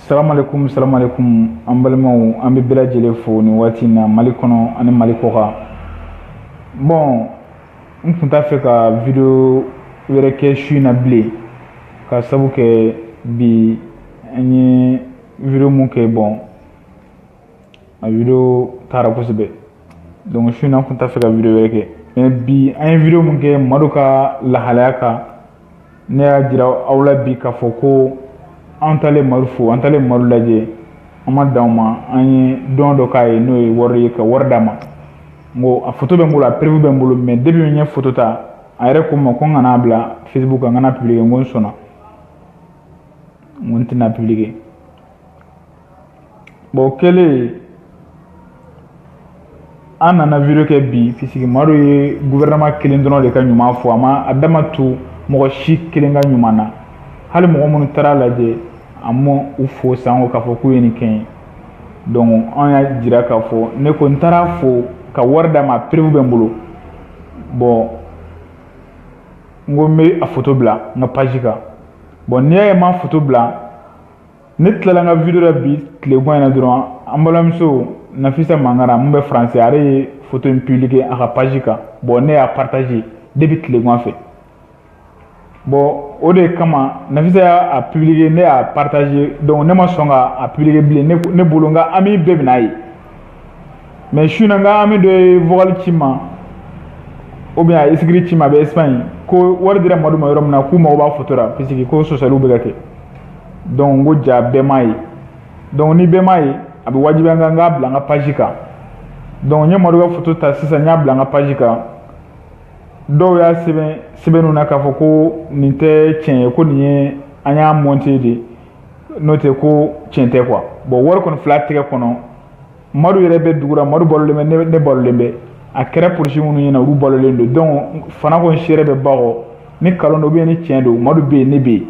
salamalekun salamalekun an balimaw an bɛ bɛɛ lajɛlen fo nin waati in na mali kɔnɔ ani mali kɔkan bon n tun t'a fɛ ka video wɛrɛ kɛ su in na bilen ka sabu kɛ bi an ye video mun kɛ bon a video taara kosɛbɛ donc su in na n kun t'a fɛ ka video wɛrɛ kɛ mais bi an ye video mun kɛ madu ka lahalaya kan ne y'a jira aw la bi k'a fɔ ko an taalen madu fo an taalen madu lajɛ an ma dan o ma an ye don dɔ k'a ye n'o ye wari ye ka wari d'a ma n ko a foto bɛ n bolo a preuve bɛ n bolo mais depuis n ye foto ta a yɛrɛ ko n ma ko n kana bila facebook kan n kana publike n ko n sɔnna n ko n tɛna publike bon o kɛlen an nana video kɛ bi puisque madu ye guvɛrɛnama kelen dɔrɔn de ka ɲuman fɔ a ma a da ma tu mɔgɔ si kelen ka ɲuman na hali mɔgɔ minnu taara lajɛ a ma u fo sanko k'a fɔ k'u ye nin kɛ ye donc an y'a jira k'a fɔ ne ko n taara fo ka wari d'a ma preuve bɛ n bolo bon n ko n bɛ a foto bila n ka page kan bon n'i y'a ye n ma foto bila ne tilala n ka video la bi tilegan in na dɔrɔn an balimamuso nafisa mangara mun bɛ faransi ale ye foto in publike a ka page kan bon ne y'a partage depuis tilegan fɛ bon o de kama nafisa y'a publike ne y'a partage donc ne ma sɔn ka a publike bilen ne bolo n ka ami bɛɛ bɛn'a ye mais su na n ka ami dɔ ye vocal ci n ma ou bien a écrit ci n ma a bɛ Espagne ko wari dira Madu ma yɔrɔ min na k'u mago b'a foto la puisque ko sɔsɔliw bɛ ka kɛ donc n ko jaa bɛɛ m'a ye donc ni bɛɛ m'a ye a bɛ wajibiya n kan n k'a bila n ka page kan donc n ye Madu ka foto ta sisan n y'a bila n ka page kan dɔw y'a sɛbɛn sɛbɛnniw na k'a fɔ ko nin tɛ tiɲɛ ye ko nin ye an y'a monter de n'o tɛ ko tiɲɛ tɛ quoi bon wari kɔni fil'a tɛgɛ kɔnɔ madu yɛrɛ bɛ dugu la madu balolen bɛ ne balolen bɛ a kɛra polisi minnu ɲɛna olu balolen don donc fana ko n seere bɛ ba kɔ ni kalon don ou bien ni tiɲɛ don madu bɛ yen ne bɛ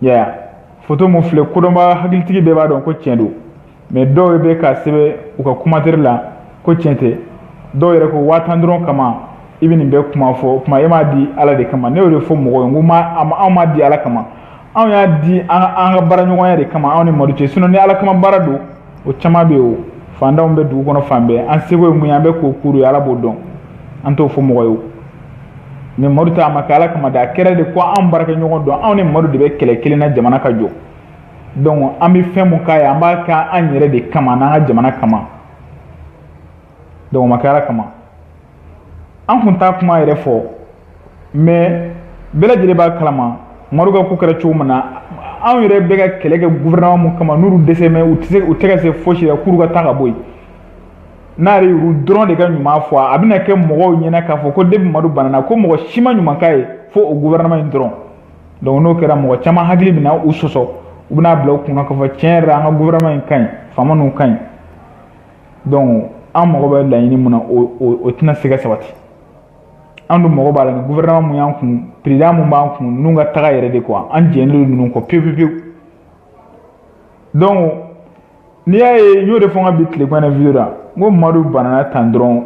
yen foto min filɛ kodɔnba hakilitigi bɛɛ b'a dɔn ko tiɲɛ don mais dɔw bɛ k'a sɛbɛn u ka commentaire la ko tiɲɛ tɛ dɔw yɛrɛ ko waa tan dɔrɔn kama i bɛ nin bɛɛ kuma fɔ o tuma e m'a di ala de kama ne y'o de fɔ mɔgɔw ye n ko anw m'a di ala kama anw y'a di an ka baaraɲɔgɔnya de kama anw ni madu cɛ sinon ni ala kama baara don o caman bɛ yen o fantanw bɛ dugu kɔnɔ fan bɛɛ an seko ye mun ye an bɛ k'o k'olu ye ala b'o dɔn an t'o fɔ mɔgɔ ye mais madu ta a ma kɛ ala kama dɛ a kɛra de ko anw baarakɛɲɔgɔn don anw ni madu de bɛ kɛlɛ kelen na jamana ka jɔ donc an bɛ fɛn mun k'a ye an b'a kɛ an yɛrɛ de kama n'an ka jamana kama donc o ma kɛ ala kama an kun t'a kuma yɛrɛ fɔ mais bɛɛ lajɛlen b'a kalama madu ka ko kɛra cogo min na anw yɛrɛ bɛ ka kɛlɛ kɛ gouvernement mun kama n'olu dɛsɛ mɛ u tɛ se u tɛ ka se fosi la k'olu ka taa ka bɔ yen n'a yɛrɛ y'u dɔrɔn de ka ɲuman fɔ a bɛna kɛ mɔgɔw ɲɛna k'a fɔ ko depuis madu banana ko mɔgɔ si ma ɲuman k'a ye fo o gouvernement in dɔrɔn donc n'o kɛra mɔgɔ caman hakili bɛna u sɔsɔ u bɛna bila u kunna k'a fɔ tiɲɛ yɛrɛ la an ka gouvernement in ka ɲi faama ninnu ka ɲi donc an mago bɛ laɲini mun na o tɛna se ka sabati an dun mago b'a la ni gouvernement mun y'an kun président mun b'an kun ninnu ka taga yɛrɛ de quoi an jɛnnen don ninnu kɔ pewu pewu pewu donc n'i y'a ye n y'o de fɔ n ka bi tilekɔnɔ video la n ko madu banana tan dɔrɔn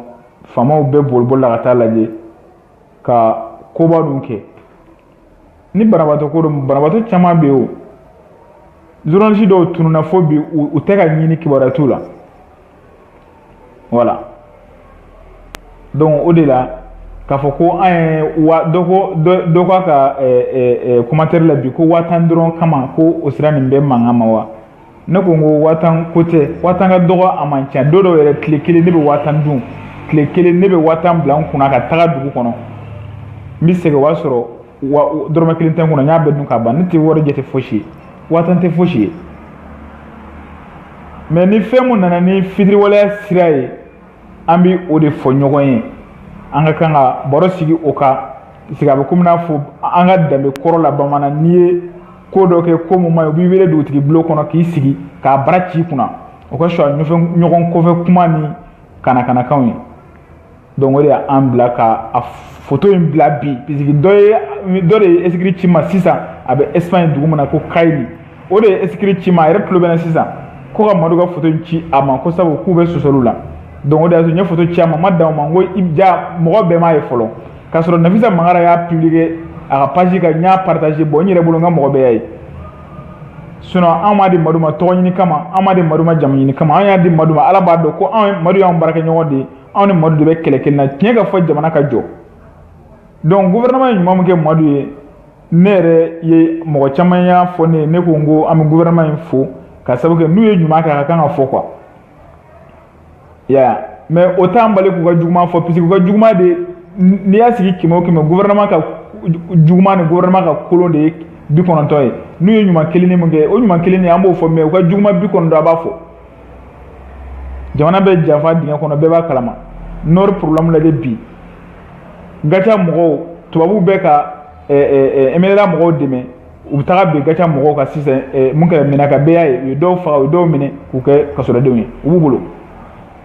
faamaw bɛɛ bolibolila ka taa lajɛ ka koba dun kɛ ni banabaatɔ ko don banabaatɔ caman bɛ yen o journaliste dɔw tununna fo bi u tɛ ka ɲini kibaruya t'u la voilà donc o de la k'a fɔ ko an ye wa dɔ ko dɔ k'a ka commentaire la bi ko waa tan dɔrɔn kama ko o sera nin bɛɛ mankan ma wa ne ko n ko waa tan ko tɛ waa tan ka dɔgɔ a man ca don dɔw yɛrɛ tile kelen ne bɛ waa tan dun tile kelen ne bɛ waa tan bila n kunna ka taga dugu kɔnɔ n bɛ segin o b'a sɔrɔ dɔrɔmɛ kelen tɛ n kunna n y'a bɛɛ dun ka ban ne tɛ wari jate fosi ye waa tan tɛ fosi ye mais ni fɛn mun nana ni fitiriwaleya sira ye an bɛ o de fɔ ɲɔgɔn ye an ka kan ka baro sigi o kan puisque a bɛ komi n'a fɔ an ka danbe kɔrɔ la bamanan n'i ye ko dɔ kɛ ko mun man ɲi u b'i wele dugutigi bulon kɔnɔ k'i sigi k'a bara ci i kunna o ka fisa ɲɔgɔn kɔfɛ kuma ni kanakanakanw ye donc o de y'an bila ka a foto in bila bi puisque dɔ ye dɔ de ye esikiri ci n ma sisan a bɛ espagne dugu min na ko kayili o de ye esikiri ci n ma a yɛrɛ tulo bɛ n na sisan ko ka madu ka foto ci a ma ko sabu k'u bɛ sɔsɔliw la donc o de y'a to n ye foto ci a ma n ma dan o ma n ko i ja mɔgɔ bɛɛ m'a ye fɔlɔ k'a sɔrɔ nafisa mangara y'a publier a ka page kan n y'a partager bon n yɛrɛ bolo n ka mɔgɔ bɛɛ y'a ye sinon an m'a di madu ma tɔgɔ ɲini kama an m'a di madu ma jamu ɲini kama an y'a di madu ma ala b'a dɔn ko an madu y'an baarakɛɲɔgɔn de ye anw ni madu de bɛ kɛlɛ kelen na tiɲɛ ka fɔ jamana ka jɔ donc gouvernement ye ɲuman min kɛ madu ye ne yɛrɛ ye mɔgɔ caman y'a fɔ ne ye ne ko n ko an bɛ gouvernement in fo ka sabu kɛ n'u ye ɲuman kɛ a ka kan ka fɔ quoi i y'a ye mais o t'an bali k'u ka juguman fɔ puisque u ka juguman de n'i y'a sigi kɛmɛ o kɛmɛ gouvernement ka juguman ni gouvernement ka kolon de ye bi kɔnɔntɔn ye n'u ye ɲuman kelen nin mun kɛ o ɲuman kelen nin an b'o fɔ mais u ka juguman bi kɔnɔntɔn an b'a fɔ jamana bɛ janfa dingɛ kɔnɔ bɛɛ b'a kalama nord problème lajɛ bi gatia mɔgɔw tubabuw bɛ ka mnla mɔgɔw dɛmɛ u bɛ taga bin gatia mɔgɔw kan sisan mun kɛra menaka bɛɛ y'a ye u ye dɔw faga u ye dɔw minɛ k'u kɛ kasodenw ye u b'u bolo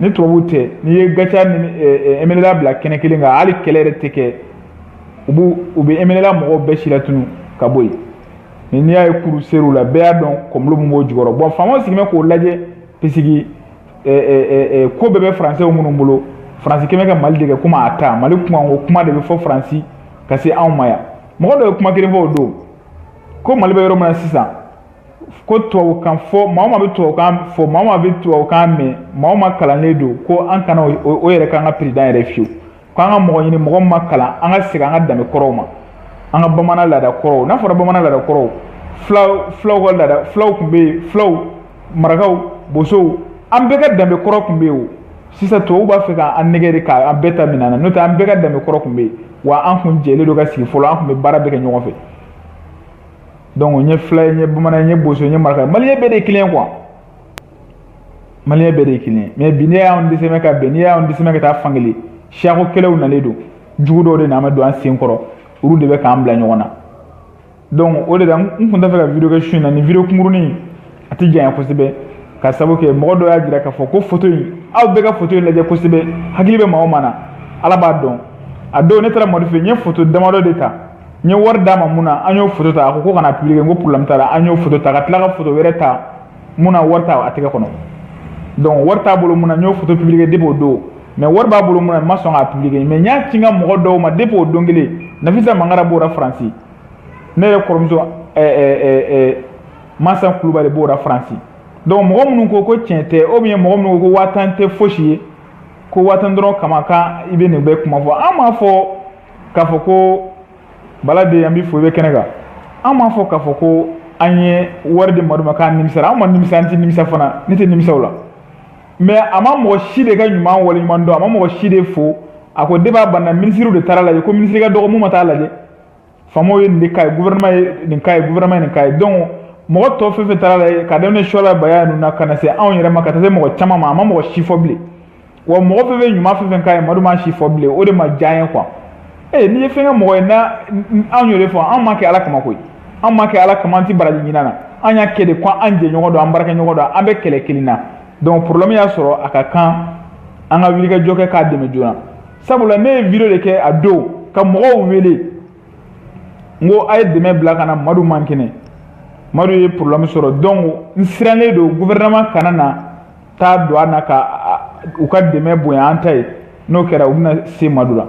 ni tubabuw tɛ n'i ye gatia ni mnla bila kɛnɛ kelen kan hali kɛlɛ yɛrɛ tɛ kɛ u b'u u bɛ mnla mɔgɔw bɛɛ silatunu ka bɔ yen mɛ n'i y'a ye kuru ser'u la bɛɛ y'a dɔn complot min b'o jukɔrɔ bon faamaw sigilen bɛ k'o lajɛ pisiki ko bɛɛ bɛ faransɛ minnu bolo faransi kɛmɛ ka mali de kɛ komi a ta mali kuma o kuma de bɛ fɔ faransi ka se anw ma yan mɔgɔ dɔ ye kuma kelen fɔ o don ko mali bɛ yɔrɔ min na sisan ko tubabukan fɔ maa o maa bɛ tubabukan fɔ maa o maa bɛ tubabukan mɛn maa o maa kalannen don ko an kana o yɛrɛ k'an ka peresidan yɛrɛ fiyewu ko an ka mɔgɔ ɲini mɔgɔ min ma kalan an ka segin an ka danbe kɔrɔw ma an ka bamanan laada kɔrɔw n'a fɔra bamanan laada kɔrɔw fulaw fulaw ka laada fulaw tun bɛ yen fulaw marakaw bosow an bɛɛ ka danbe kɔrɔ tun bɛ yen o sisan tubabuw b'a fɛ k'an nɛgɛn de k'an bɛɛ ta minɛ an na n'o tɛ an bɛɛ ka danbe kɔrɔ tun bɛ yen wa an tun jɛlen don ka sigi fɔlɔ an tun bɛ baara bɛɛ kɛ ɲɔgɔn fɛ donc n ye fila ye n ye bamanan n ye boso n ye maraka ye maliyɛn bɛɛ de ye kelen ye quoi maliyɛn bɛɛ de ye kelen ye mɛ bi n'i y'an dɛsɛmɛ ka bɛn n'i y'an dɛsɛmɛ ka taa fankelen siyako kɛlɛw nalen don jugu dɔw de nana don an sen kɔrɔ olu de bɛ k'an bila ɲɔgɔn na donc o de la n tun t'a fɛ ka video kɛ su in na nin video kunkurunin a tɛ janya kosɛbɛ k'a sabu kɛ mɔgɔ dɔ y'a jira k'a fɔ ko foto in aw bɛɛ ka foto in lajɛ kosɛbɛ hakili bɛ maa o maa na ala b'a dɔn a don ne taara madu fɛ n ye foto damadɔ de ta n ye wari d'a ma mun na an y'o foto ta a ko ko kana publier n ko problème t'a la an y'o foto ta ka tila ka foto wɛrɛ ta mun na wari t'a a tɛgɛ kɔnɔ donc wari t'a bolo mun na n y'o photo publier depuis o don mais wari b'a bolo mun na n ma sɔn k'a publier mais n y'a ci n ka mɔgɔ dɔw ma depuis o don kelen nafisa mangara b'o la faransi ne yɛrɛ kɔrɔmuso eh, eh, eh, mansa kulubali b'o la faransi donc mɔgɔ minnu ko ko tiɲɛ tɛ ou bien mɔgɔ minnu ko ko waa tan tɛ fosi ye ko waa tan dɔrɔn kama k'an bɛ nin bɛɛ kuma fɔ an m'a fɔ k'a fɔ ko bala de an bɛ fo i bɛ kɛnɛ kan an m'a fɔ k'a fɔ ko an ye wari di madu ma k'an nimisara an ma nimisa an tɛ nimisa fana ne tɛ nimisa o la mɛ a ma mɔgɔ si de ka ɲuman waleɲuman dɔn a ma mɔgɔ si de fo a ko débat banna minisiriw de taara lajɛ ko minisiri ka dɔgɔ mun ma taa lajɛ faamaw ye nin de k'a ye gouvernement ye nin k'a ye gouvernement ye nin k'a ye donc mɔgɔ tɔ fɛn fɛn taara lajɛ ka daminɛ suwala baya ninnu na ka na se anw yɛrɛ ma ka taa se mɔgɔ caman ma a ma mɔgɔ si fo bilen wa mɔgɔ fɛn fɛn ɲuman fɛn fɛn k'a ye madu m'a si fo bilen o de ma diya an ye quoi ee n'i ye fɛn kɛ mɔgɔ ye na anw y'o de fɔ anw m'a kɛ ala kama koyi anw m'a kɛ ala kama an tɛ baraji ɲini na an y'a kɛ de ko an jɛɲɔgɔn don an baarakɛɲɔgɔn don an bɛ kɛlɛ kelen na donc problème y'a sɔrɔ a ka kan an ka wulikajɔ kɛ k'a dɛmɛ joona sabula ne ye video de kɛ a don ka mɔgɔw wele n ko a ye dɛmɛ bila ka na madu man kɛnɛ madu ye problème sɔrɔ donc n sirannen don gouvernement kana na taa don an na ka u ka dɛmɛ bonya an ta ye n'o kɛra u bɛna se madu la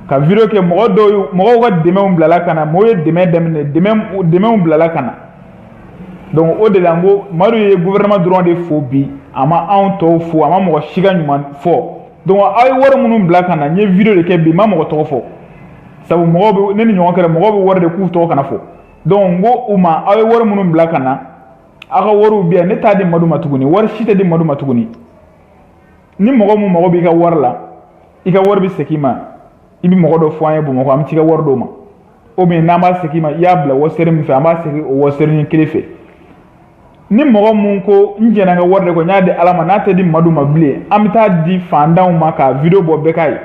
ka video kɛ mɔgɔ dɔw mɔgɔw ka dɛmɛw bilala ka na mɔgɔw ye dɛmɛ daminɛ dɛmɛw bilala ka na donc o de la n ko madu ye gouvernement dɔrɔn de fo bi a ma anw tɔw fo a ma mɔgɔ si ka ɲuman fɔ donc aw ye wari minnu bila ka na n ye video de kɛ bi n ma mɔgɔ tɔgɔ fɔ sabu mɔgɔw bɛ ne ni ɲɔgɔn kɛra mɔgɔw bɛ wari di k'u tɔgɔ kana fɔ donc n ko u ma aw ye wari minnu bila ka na aw ka wariw bɛ yan ne t'a di madu ma tuguni wari si tɛ di madu ma tuguni ni mɔgɔ mun mago b'i ka wari la i ka wari bɛ segin i ma i bɛ mɔgɔ dɔ fɔ an ye bamakɔ an bɛ t'i ka wari d'o ma ou bien an b'a segin i ma i y'a bila western min fɛ an b'a segin o western nin kelen fɛ ni mɔgɔ mun ko n jɛnna n ka wari de kɔ n y'a di ala ma n'a tɛ di madu ma bilen an bɛ t'a di fantanw ma ka video bɔ bɛɛ k'a ye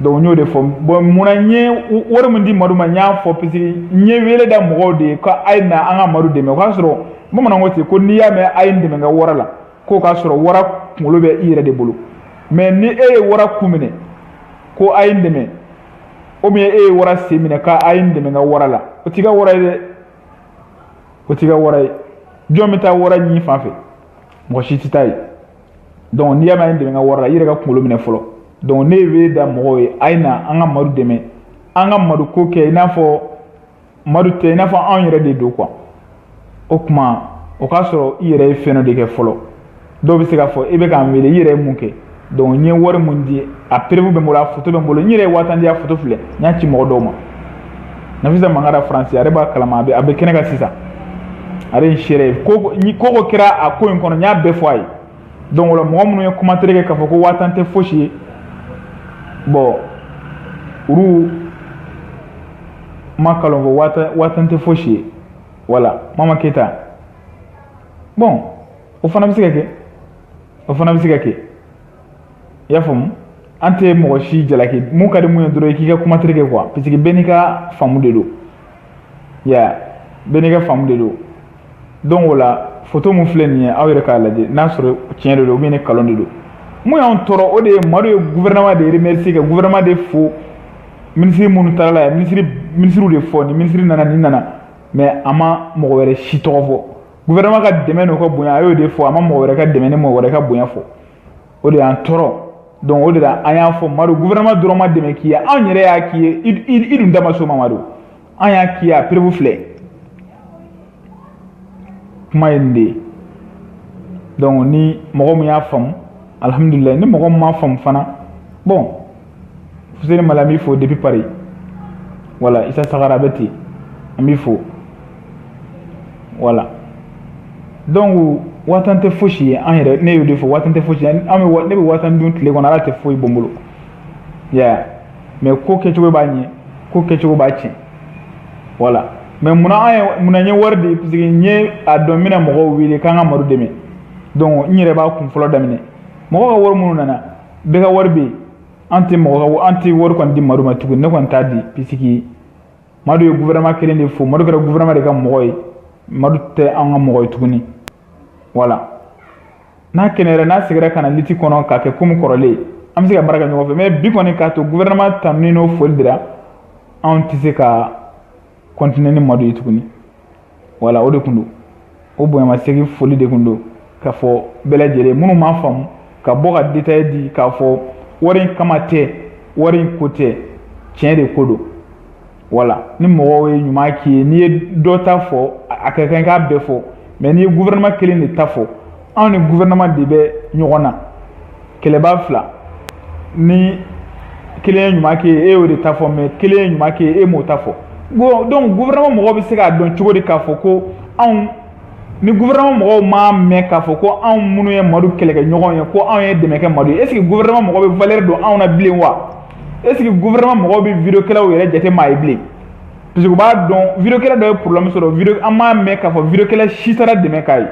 donc n y'o de fɔ bon munna n ye wari min di madu ma n y'a fɔ parce que n ye wele da mɔgɔw de ye ko a ye na an ka madu dɛmɛ o k'a sɔrɔ bamanan ko ten ko n'i y'a mɛn a ye n dɛmɛ n ka wara la k'o k'a sɔrɔ wara kunkolo bɛ i yɛrɛ de bolo mais ni e ye wara ku minɛ ko a ye n dɛmɛ ou bien e ye wara sen minɛ ko a ye n dɛmɛ n ka wara la o t'i ka wara ye dɛ o t'i ka wara ye jɔn bɛ taa wara ɲin fan fɛ mɔgɔ si tɛ taa yen donc n'i y'a mɛn a n dɛmɛ n ka wara la i yɛrɛ ka kunkolo minɛ fɔlɔ donc ne ye wele da mɔgɔw ye a ye na an ka madu dɛmɛ an ka madu ko kɛ i n'a fɔ madu tɛ i n'a fɔ anw yɛrɛ de don quoi o kuma o k'a sɔrɔ i yɛrɛ ye fɛn dɔ de kɛ fɔlɔ dɔw bɛ se k'a fɔ i bɛ k'an wele i yɛrɛ ye mun kɛ donc n ye wari mun di a preuve bɛ n bolo a foto bɛ n bolo n yɛrɛ ye waa tan di a foto filɛ n y'a ci mɔgɔ dɔw ma nafisa mangara faransi ale b'a kalama a bɛ a bɛ kɛnɛ kan sisan ale ye seere ye ko o ko kɛra a ko in kɔnɔ n y'a bɛɛ fɔ a ye donc o la mɔgɔ minnu ye commentaire kɛ k'a fɔ ko waa tan tɛ fosi ye bon olu ma kalon fɔ waa tan waa tan tɛ fosi ye voilà mama keyita bon o fana bɛ se ka kɛ o fana bɛ se ka kɛ i y'a faamu an tɛ mɔgɔ si jalaki mun ka di mun ye dɔrɔn i k'i ka commentaire kɛ quoi parce que bɛɛ n'i ka faamu de don ya bɛɛ n'i ka faamu de don donc o la foto mun filɛ nin ye aw yɛrɛ k'a lajɛ n'a sɔrɔ tiɲɛ de don ou bien ni kalon de don mun y'anw tɔɔrɔ o de ye madu ye gouvernement de remercier ka gouvernement de fo minisiri minnu taara la yan minisiri minisiriw de fɔ ni minisiri nana nin nana mais a ma mɔgɔ wɛrɛ si tɔgɔ fɔ gouvernement ka dɛmɛ n'o ka bonya a y'o de fɔ a ma mɔgɔ wɛrɛ ka dɛmɛ ni mɔgɔ wɛrɛ ka bonya fɔ o de y'an tɔɔrɔ donc o de la an y'a fɔ madu gouvernement dɔrɔn ma dɛmɛ k'i ye anw yɛrɛ y'a k'i ye i dun da ma s'o ma madu an y'a k'i ye a preuve filɛ kuma ye nin de ye donc ni mɔgɔ min y'a faamu alihamudulilayi ni mɔgɔ min m'a faamu fana bon fuseni mali an b'i fo depuis paris wala isa sagara bɛ ten an b'i fo wala donc waatan tɛ fosi ye an yɛrɛ ne y'o de fɔ waatan tɛ fosi an bɛ ne bɛ waatan dun tile kɔnɔ ala tɛ foyi bɔ n bolo ya mɛ ko kɛcogo b'a ɲɛ ko kɛcogo b'a tiɲɛ wala mɛ munna an ye munna n ye wari di parce que n ye a dɔn n bɛna mɔgɔw wele k'an ka madu dɛmɛ donc n yɛrɛ b'a kun fɔlɔ daminɛ mɔgɔ ka wari minnu nana bɛɛ ka wari bɛ yen an tɛ mɔgɔ ka an tɛ wari kɔni di madu ma tuguni ne kɔni t'a di puisque madu ye gouvernement kelen de fo madu kɛra gouvernement de ka mɔgɔ ye madu tɛ an ka mɔgɔ ye tuguni wala n'a kɛnɛyara n'a segira ka na liti kɔnɔ k'a kɛ komi kɔrɔlen an bɛ se ka baara kɛ ɲɔgɔn fɛ mɛ bi kɔni k'a to gouvernement tanuni n'o foli dira anw tɛ se ka continuer ni madu ye tuguni wala o de tun don o bonyamasegin foli de tun don k'a fɔ bɛɛ lajɛlen minnu m'a faamu ka bɔ ka détail di k'a fɔ wari in kama tɛ wari in ko tɛ tiɲɛ de ko don wala ni mɔgɔw ye ɲuman k'i ye n'i ye dɔ ta fɔ a ka kan i k'a bɛɛ fɔ mɛ n'i ye gouvernement kelen de ta fɔ anw ni gouvernement de bɛ ɲɔgɔn na kɛlɛba fila ni kelen ye ɲuman kɛ e y'o de ta fɔ mɛ kelen ye ɲuman kɛ e m'o ta fɔ donc gouvernement mɔgɔw bɛ se k'a dɔn cogo di k'a fɔ ko anw ni gouvernement mɔgɔw m'a mɛn k'a fɔ ko anw minnu ye madu kɛlɛkɛɲɔgɔn ye ko anw ye dɛmɛ kɛ madu ye est ce que gouvernement mɔgɔw bɛ valeur don anw na bilen wa est ce que gouvernement mɔgɔw bɛ vidéokɛlaw yɛrɛ jate maa ye bilen parce que u b'a dɔn vidéokɛla dɔ ye problème sɔrɔ an m'a mɛn k'a fɔ vidéokɛla si taara dɛmɛ k'a ye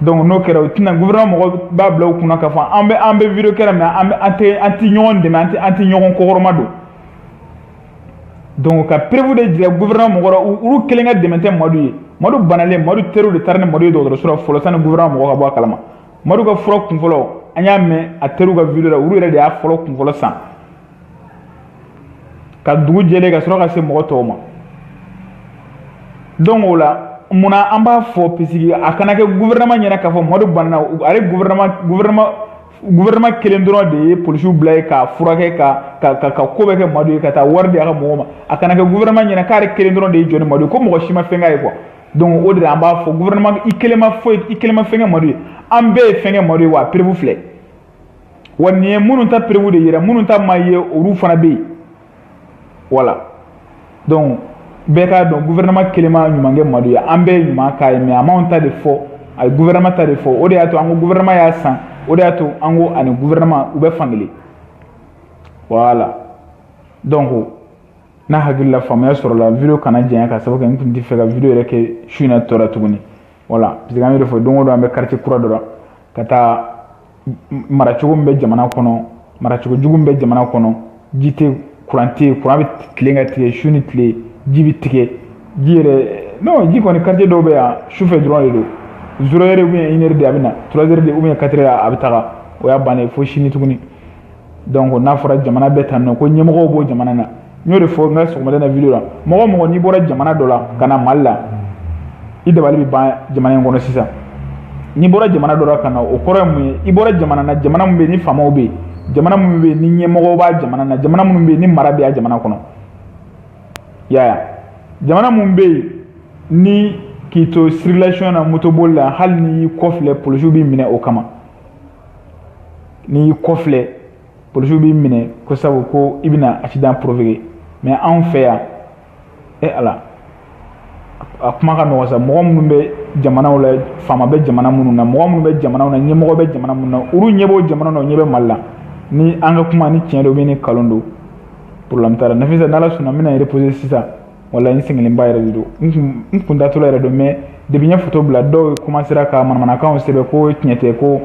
donc n'o kɛra o tuma na gouvernement mɔgɔ b'a bila u kunna k'a fɔ an bɛ an bɛ video kɛla mɛ an bɛ an tɛ an tɛ ɲɔgɔn dɛmɛ an tɛ an tɛ ɲɔgɔn kɔkɔrɔma don donc ka preuve de jira gouvernement mɔgɔ la olu kelen ka dɛmɛ tɛ madu ye madu banalen madu teriw de taara ni madu ye dɔgɔtɔrɔso la fɔlɔ sanni gouvernement mɔgɔ ka bɔ a kalama madu ka fura kunfɔlɔ an y'a mɛn a teriw ka video la olu yɛrɛ de y'a fɔlɔ kunfɔlɔ san ka dugu jɛlen ka sɔrɔ ka se mɔgɔ tɔw ma donc o la munna an b'a fɔ puisque a kana kɛ gouvernement ɲɛna k'a fɔ madu banana ale gouvernement gouvernement gouvernement kelen dɔrɔn de ye polisiw bila yen k'a furakɛ ka ka ka ka ko bɛɛ kɛ madu ye ka taa wari di a ka mɔgɔw ma a kana kɛ gouvernement ɲɛna k'ale kelen dɔrɔn de ye jɔ ni madu ye ko mɔgɔ si ma fɛn k'a ye quoi donc o de la an b'a fɔ gouvernement i kelen ma foyi i kelen ma fɛn kɛ madu ye an bɛɛ ye fɛn kɛ madu ye wa preuve filɛ wa nin ye minnu ta preuve de yira minnu ta ma ye olu fana bɛ yen wala donc bɛɛ k'a dɔn gouvernement kelen ma ɲuman kɛ madu ye an bɛɛ ye ɲuman k'a ye mɛ a m'an ta de fɔ a ye gouvernement ta de fɔ o de y'a to an ko gouvernement y'a san o de y'a to an ko a ni gouvernement u bɛ fankelen wala donc n'a hakilila faamuya sɔrɔla video kana janya ka sababu kɛ n tun tɛ fɛ ka video yɛrɛ kɛ su in na tɔ la tuguni voilà parce que an y'o de fɔ don o don an bɛ quartier kura dɔ la ka taa maracogo min bɛ jamana kɔnɔ maracogo jugu min bɛ jamana kɔnɔ ji tɛ kuran tɛ yen kuran bɛ tilen ka tigɛ su ni tile ji bɛ tigɛ ji yɛrɛ non ji kɔni quartier dɔw bɛ yan su fɛ dɔrɔn de don zéro heure ou bien une heure de a bɛ na trois heures de ou bien quatre heures a bɛ taga o y'a bannen fo sini tuguni donc n'a fɔra jamana bɛɛ tan nɔ ko ɲɛmɔgɔw b'o jamana na n y'o de fɔ n ka sɔgɔmada na vidéo la mɔgɔ o mɔgɔ n'i bɔra jamana dɔ la ka na mali la i dabali bɛ ban jamana in kɔnɔ sisan n'i bɔra jamana dɔ la ka na o kɔrɔ ye mun ye i bɔra jamana na jamana min bɛ yen ni faamaw bɛ yen jamana minnu bɛ yen ni ɲɛmɔgɔw b'a jamana na jamana minnu bɛ yen ni mara bɛ a jamana kɔnɔ i y'a ye jamana minnu bɛ yen ni k'i to circulation na motoboli la hali n'i y'i kɔfilɛ polisiw b'i minɛ o kama n'i y'i kɔfilɛ polisiw b'i minɛ ko sabu ko i bɛna accident provoquer mais anw fɛ yan e ala a kuma ka nɔgɔn sa mɔgɔ minnu bɛ jamanaw la faama bɛ jamana minnu na mɔgɔ minnu bɛ jamanaw na ɲɛmɔgɔ bɛ jamana minnu na olu ɲɛ b'o jamana na o ɲɛ bɛ mali la ni an ka kuma ni tiɲɛ don ou bien ni kalon don problème t'a la nafisa n'ala sɔnna n bɛna reposer sisan voilà n sɛgɛnlenba yɛrɛ de don n kun n kun datɔla yɛrɛ don mais depuis n ye foto bila dɔw komansera ka manamanakanw sɛbɛn ko tiɲɛ tɛ ko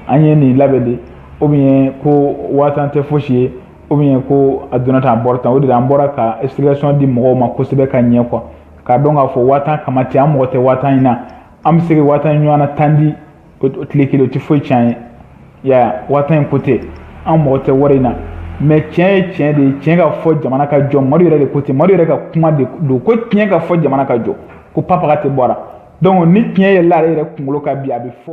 an ye nin labɛn de ou bien ko waa tan tɛ fosi ye ou bien ko a donna tan a bɔra tan o de la an bɔra ka explication di mɔgɔw ma kosɛbɛ ka ɲɛ quoi k'a dɔn k'a fɔ waa tan kama tɛ an mako tɛ waa tan in na an bɛ se ka waa tan ɲɔgɔn na tan di o tile kelen o tɛ foyi tiɲɛ an ye ya waa tan in ko tɛ an mako tɛ wari in na mais tiɲɛ ye tiɲɛ de ye tiɲɛ ka fɔ jamana ka jɔ madu yɛrɛ de ko ten madu yɛrɛ ka kuma de don ko tiɲɛ ka fɔ jamana ka jɔ ko papaga tɛ bɔra donc ni tiɲɛ yɛlɛla ale yɛrɛ kunkolo kan bi a bɛ fɔ